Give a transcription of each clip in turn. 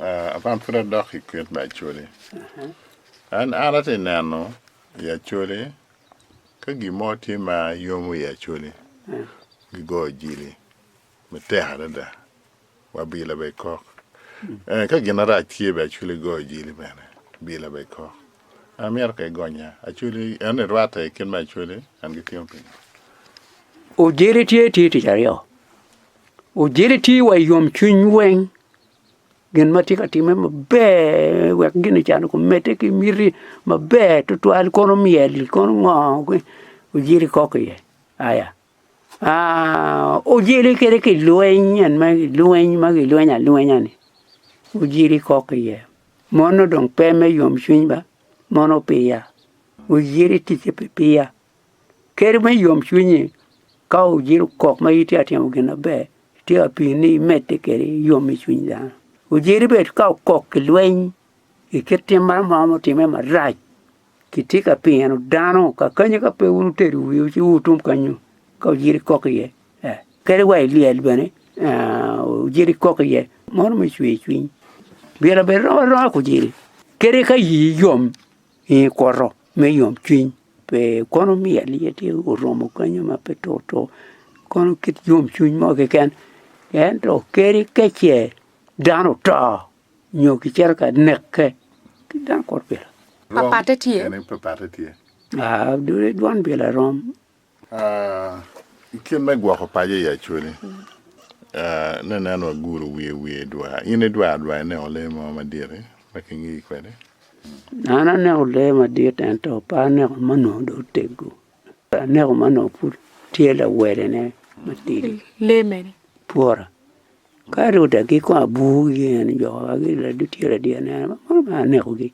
Ah, man pud adok i kwit me Acholi. An an atye ka neno i Acholi ka gin mo tye ma yomo i Acholi, gigoyo jili matek adada. Wabila bene kok. Eh, ka gin marac tye bene Acholi gigoyo jili bene, bila bene kok. An myero ka igonya Acholi, en ni rwatta i kit me Acholi, an gitimo pingo? Ojele tye tye tic aryo. Ojele tye wa i yomcwiny weng, gin ma tye ka timme maber wek gin can kumedde ki miti maber tutwal kono myel kono ngo ojele kok iye aya aa ojele kede kilweny en ma kilweny ma kilweny alwenya ni ojele kok iye mono dong pe me yomcwiny ba mono piya ojele ticce pi piya. Kadi bed yomcwinyi ka ojiro kok ma itye ka timo gin maber, tye ka pii ni imedde kwede yom i cwiny dano. Ojiri bene ka okok ki lweny i kit tim ma romo romo timme marac, kitye ka pino dano kakanyi ka pe wun wutedo wiwu ci wutum kenyu ka ojiri kok iye. Kadi wa i lyel bene ojiri kok iye mono me cwer cwiny. Myero abed rom aromaa ki ojiri kadi ka ii yom i kwoto. me yomcwiny pe kono miyo aliya tye oromo kanya ma pe tur tur kono kit yomcwiny mo keken ento kadi ka ce dano oto nyo kicito ka neke kit dano kuro pire. Rom kene papatte tye. Aa dul dwon bila rom. I kit me gwoko paco i Acholi, ne nen wa guru wiye wiye dwar. In idwar dwar ineno lee mo madit-ti ma kingiyi kwede? An aneko lee madit ento pe aneko ma onongo dong oteggo. Aneko ma onongo pud tye lawelene matidi. Lee mene? Twora. Ka ati odegi kong aburogi gin jo ma gitye ladier adier aneno ni mono mere anekogi.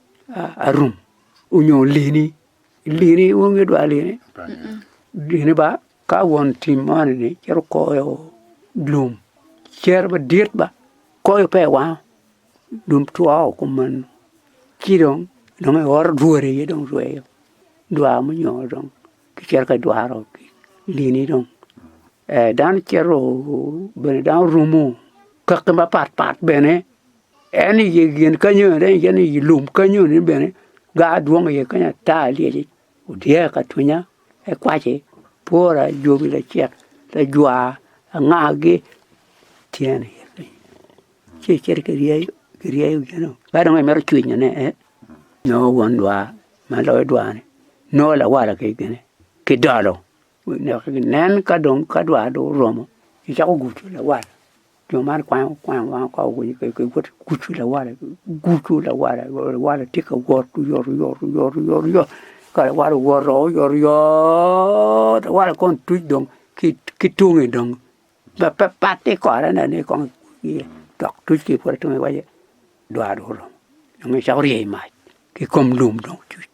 arum onyo lini, lini inongo idwar lini? Lini ba ka won tim moni ni cito koyo lum cere madit ba koyo pe i wango lum two woko kumeno ci dong nongo i oro dwori aye dong rweyo dwar munyongo dong kicito ka dwaro lini dong dano cito bene dano rumo kaki mapat pat bene. En i gen kanyoni en aye ni i lum kanyoni bene gar dwong iye kanya ata lyeci odyere ka twinya ki kwaci pwora jobi lacek lajwar angagi tyen iye kany ci icito ki ryeyo ki ryeyo gino ka dong imito cwinyo ne en nongo won dwar ma loyo dwar ni nongo lawala ki gene ki dolo nen ka dong ka dwar dong oromo icako gudo lawala Jo man kwango kwango wang oko woko keken pe giwoto ki gudo lawala gudo lawala lawala tye ka wot oyotoyotoyot ka lawala owoto oyotoyot lawala kong tuc dong ki tunge dong dok pe pat ki i kore ne ni kong iye dok tuc ki i kore tunge iwaci dwaro dong oromo dong ecako rye i mac ki kom lum dong tuc.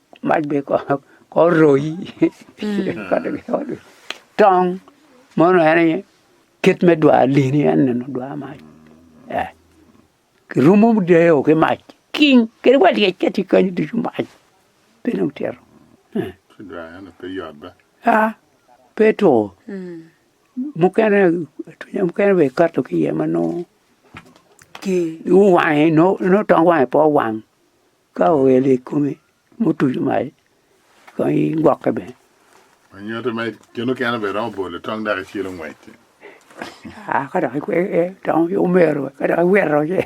Mac bene kono kor royi tong mono en aye kit me dwar lyeeni en nino dwar mac ee kirumo deyo ki mac king kadi wa lyec ka tye kany ducu mac pe dong tyero ee aa pe two mukene atwinya mukene bene ikato ki iye ma nongo ger iwange nongo tong wange pe owang. Ka oelo i komi mutuco mac, kong igwokke bene. Onyoto ma gin mukene bene romo bolo tong dok icilo ngwecci. Aa, ka dok ikwege tong ki omero, ka dok iwito ci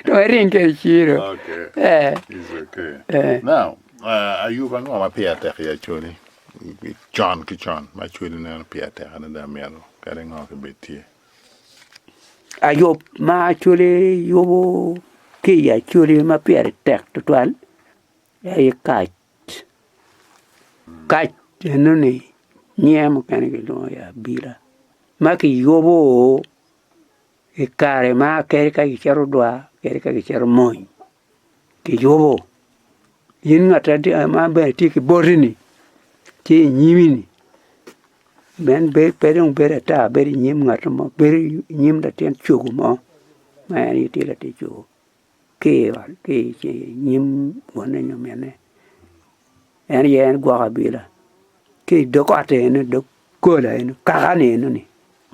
dong iring kwede iciro. Okay. Eh, It's okay. eh. Now, uh, Ayub ango ma pire tek i acoli? Con ki con, ma acoli neno pire tek adada myero kadi ngo kibed tye. Ayub ma actually yubu ki i actually ma pire tek tutwal aye kac, kac enoni nyinge mukene kilwongo ni abila ma kiyubu i kare ma kadi ka kicito dwar kadi ka kicito mony. Kiyubo, in ngat ma bene tye ki boti-ni tye i nyimi-ni, en pe dong bedo ata bedo i nyim ngat mo bedo i nyim latin cogo mo ma en aye tye latin cogo ki i nyim wonne nyo minne en aye en gwoko abila ki i dog ot eno dog gola eno kaka-ni enoni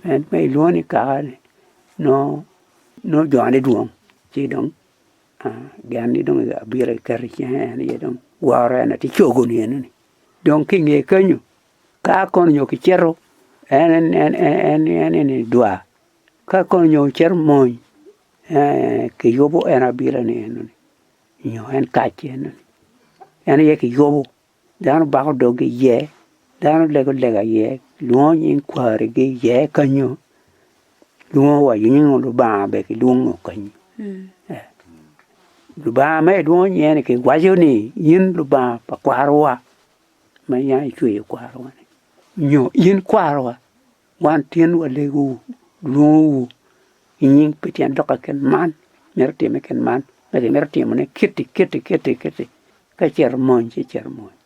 en ma ilwongo ni kaka-ni nongo jone dwong ci dong Gen ni dong abiro keto i cinge en aye dong woro en aye cogo ni eno ni dong ki inge kenyo ka kono nyo ki cito en en en en eni dwar ka kono nyo ocito mony eeh ki yubu en abiro ni eno ni nyo en kac eno ni en aye ki yubu Dano bako dogi iye, dano lego lega iye, kilwongo nying kwarigi iye kenyo, kilwongo wa nying Lubanga bene kilwongo kenyo. Lubanga ma ilwongo nyinge-ni kiwaco ni in Lubanga pa kwarowa ma in aye icweyo kwarowa-ni nyo in kwarowa wan tin walegowu, walwongowu ki nying pien dok kit man myero otimme kit man, myero otimone kiti kiti kiti. Ka icito mony ci icito mony.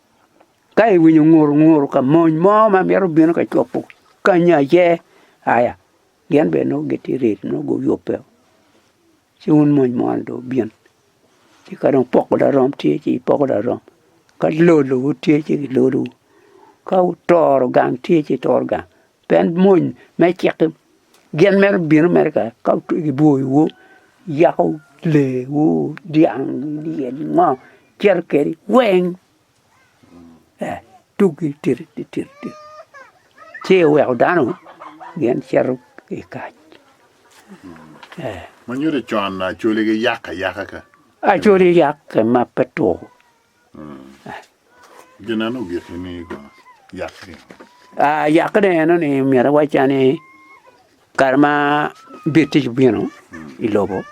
Ka iwinyo nguru nguru ka mony mo ma mito bino ka cobo kanya aye, aya, gin bene nongo gitye ready nongo guyubbe o. Ci wun mony moni dong wubin. Ci ka dong poko larom tye ci ipoko larom, ka lolowu tye ci gilodowu, ka wutoro gang tye ci itoro gang. Pien mony me cik-ki gin mere bino mere kaka ka kiboyowu, yako lewu, dyang, lyelim, ngo cito kedi weng ee tuggi tiri titiri tiri ci iweko dano gin cito ki i kac ee. Ma nyuto con Acholi giyak ayaka ka? Acholi yak ma pe two Gin eno giki ni yakke. Ah, yakke ne eno ni myero awacca ni kare ma bir tic obino i lobo,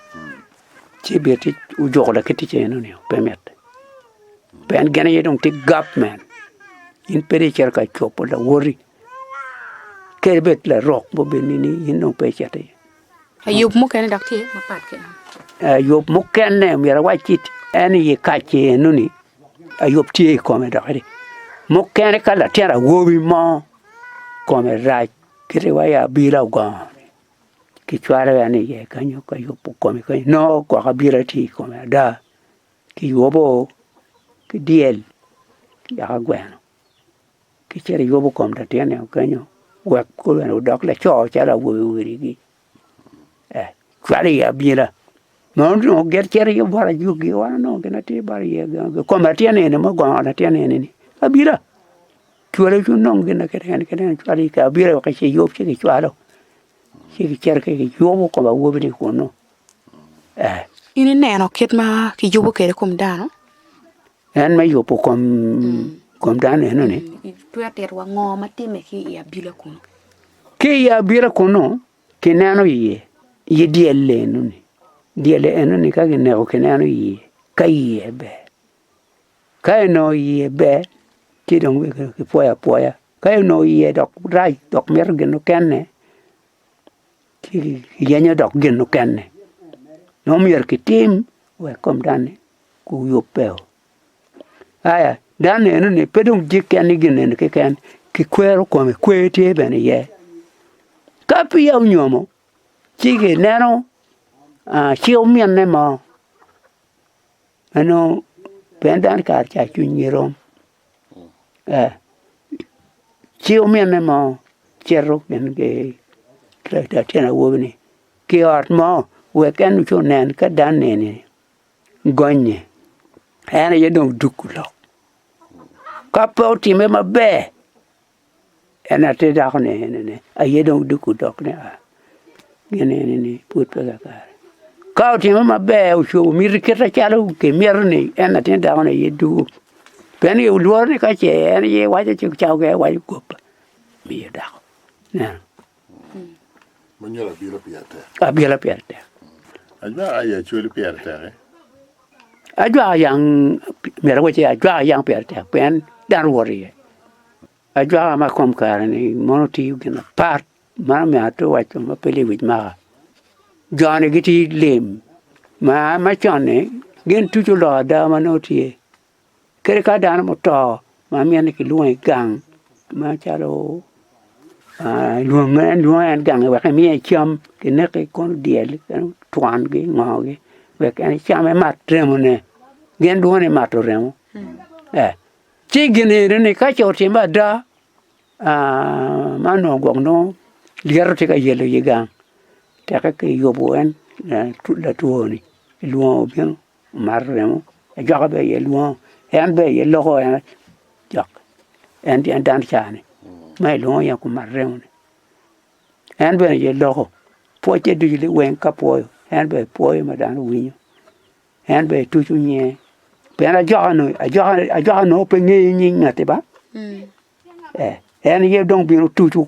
ci bir tic ojuko laki tic eno ni pe mit. Pien gin aye dong tye gapment, in pe dong icito ka cobo lawoti, kadi bed larok ma obed nini in dong pe icit iye. Ayub mukene dok tye mapat ki en. Ayub mukene myero awac ki en i ye kace eno ni Ayub tye i kome dok edi. Mukene ka latin awobi mo kome rac kite wa ya bila ogongo ni ki cwalo en i ye kanyo ka Ayub kome kanyo nongo gwoko bila tye i kome ada ki Ayubo ki dyel ki yaka gweno. ki cito iyubo kom latin eno kenyo wek kulu eno odok laco calo awobe wadigi ee cwalo iye abila nongo onongo git cito iye bot ajugi wa nongo gin atir bot iye i kom latin eni ma ogongo latin eni-ni abila cwale cwiny nongo gin ma kiti kene kiti eno cwalo i ka abila wek ci yub ci kicwalo ci kicito ci kiyubo kom awobi-ni kunnu ee. In ineno kit ma kiyubo kwede kom dano? En me yubo kom kom dano eno ni. Itwero tito wa ngo ma timme ki i abila kunu? Ki i abila kunu ki neno iye i dyelle eno ni. Dyelle eno ni ka ki neko ki neno iye ka iye ber ka inongo iye ber ci dong weko ki pwoyo apwoya ka inongo iye dok rac dok mito gin mukene yenyo dok gin mukene ma myero kitim wek kom dano-ni guyubbe. Aya dano nenoni pe dong jikke ni gin eni keken kikwero kome kwer tye bene iye ka peya onyomo ci kineno ci ominne mo ma nongo pien dano kare cawa cwinygi rom. Ci ominne mo cito gin ki latin awobi ni ki i ot mo wek en ci onen ka dan nini gonnye en aye dong duku lok ka pe otime maber En atir dako ni eni ni aye dong duk odok ni aa gin eni ni pud peya kare ka otimo maber ocung miti kite calo kimito ni en atir dako ni aye duku pien iye olworo ni ka ce en aye iwaco ci cawa ki aye iwaco goba miyo dako. Ma nyuto abilo pire tek. Abilo pire tek. Ajwaka aye acwali pire tek. Eh? Ajwaka yang mera wace ajwaka yang pire tek pien dan wor iye. Ajwaka ma kom kare ni mono tiyo gin apar mano me ato waco ma pele wic maka. Joni giti lim ma ma con ni gin tuco lok ada ma no tye. Kadi ka dano muto ma miti ni kilwongo i gang macalo lwonge en lwonge en gangi wek emiye cam kineki kono odyel en otwangi ongogi wek en ecam emat remone gin lwongo ni mato remo ee. Ci gin eni ni ka ce otimme ada man onongo gwok nongo lyeto tye ka yelo i gang teke kiyubo en latwoni kilwongo obino. Omato remo, ejwaka bene aye lwongo, en bene aye loko en jok, en tye dan cani ma ilwongo ni kumat remo ni, en bene aye loko pwocce ducu liweng ka pwoyo en bene pwoyo ma dano winyo, en bene etuco nyinge, pien ajwaka nongo ajwaka ajwaka nongo pe ngeyo nying ngati ba, ee en aye dong bino tucu.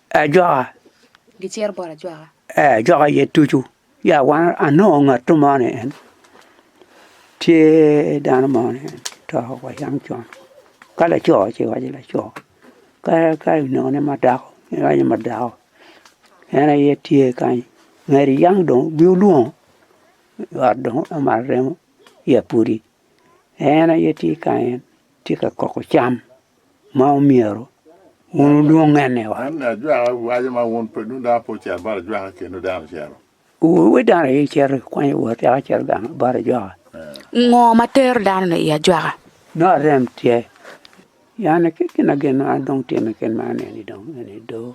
ajwaka. Gicito bot ajwaka. Ee, ajwaka aye ducu. Ya wan anongo ngatto mo ni en tye dano mo ni en to wa yam con ka laco ci iwaci laco ka ka inongo ne ma dako iwaci ma dako en aye tye kany ngeti yam dong obin olwongo i ot dong omato remo ya pudi en aye tye kany en tye ka koko cam ma omyero wun wudwonge ni wat. Wun wi dano aye icito ikwanyo wot yaka icito gang bot ajwaka. Ngo ma tero dano-ni i ajwaka? Nongo arem tye. Yane ki ginagin ma dong tye me kit ma aneno-ni dong eni doo.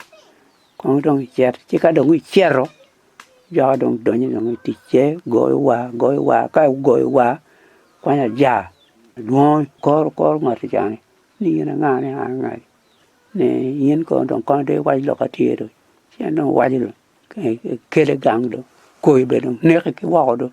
Kono dong icit, ci ka dong icito, jo ka dong donyo i ticce, goyo war, goyo war, ka gugoyo war, kwanyo aja, adwongo koro koro ngwat oconi ni in anga ni an anga ni, ni in kono dong kono de iwac lok ma tye dong, ci en dong owaco dong ekele gang dong, koyo bene dong neke ki woko dong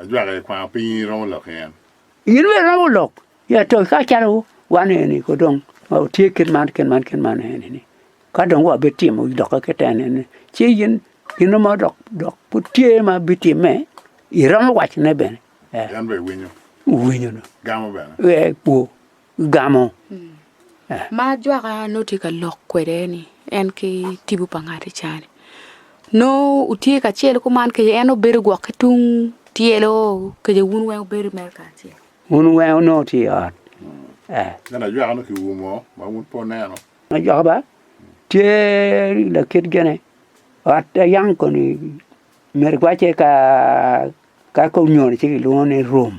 Ajwaka i kwango pinyi iromo lok i en. In bene iromo lok i atoki ka calo wan eni ko dong ma watye kit man kit man kit man eni ni ka dong wa bitimo dokke kit en eni ni ci in gino ma dok dok pud tye ma bitimme iromo wacone bene. En bene winyo. Winyo dong. Gamo bene. Ee kwo. gamo. Ma ajwaka nongo tye ka lok kwede ni en ki tibu pa ngati ca ni nongo wutye kacel kuman kece en obedo gwok ki tung tyelo kece wun weng wubedo mere kacel. Wun weng onongo tye i ot. Eh. Nen ajwaka nongo kium ngo ma wun pe oneno. Ajwaka ba tye lakit gene ot ayang koni mere gwace ka ka ka onyono ci kilwongo ni rum.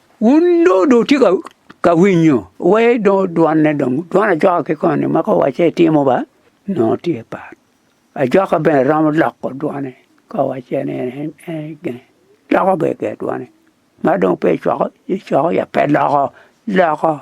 Wun dong dong wutye ka winyo, wai dong dwanne dong, dwan ajoka ki koni ma ka owacce itimo ba nongo tye pat. Ajoka bene romo loko dwane ka owacce ni en gin, loko bene ger dwane. Ma dong pe icwako, icwako ya pe loko, loko.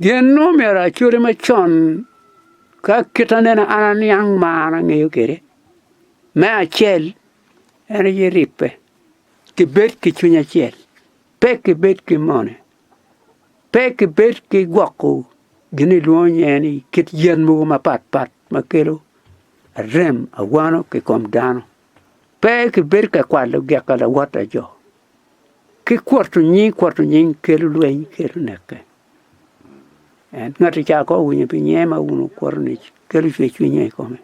Gin ma omyero acode macon ka kit anena an aniang ma an angeyo kwede, me acel en aye ribbe, kibed ki cwiny acel, pe kibed ki mone, pe kibed ki gwoko gin ma ilwongo nyinge ni kit yen mogo mapatpat ma kelo arem, awano ki kom dano. Pe kibedo ka kwalo gika lawot pa jo, ki kwoto nying, kwoto nying kelo lweny, kelo neke. En ngati ca ka owinyo pi nyiye ma wun wukwoto ni kelo cwer cwinyo i kome,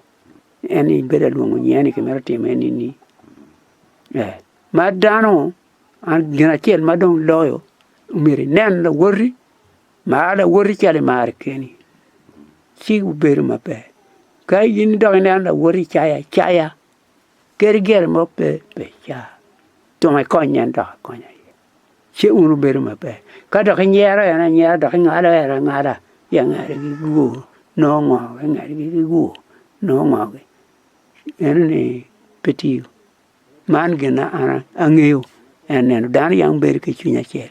en ni bedo alwongo nyiye ni kimito time ni ni ee. Ma dano an gin acel ma dong loyo myero inen lawoti Mar lawoti calo imaro keni, ci wubedo maber. Ka in dok ineno lawoti cayo acaya, kadi gire mo pe, pe icar. Tung ikony en dok akonya iye, ci wun wubedo maber. Ka dok inyero en anyera dok ingalo en angala, ci angala gi guor, nongo ngo ki ngalgi ki guor? Nongo ngo ki? Meno ni pe tiyo. Man gin ma an angeyo, en neno, dano yam bedo ki cwiny acel.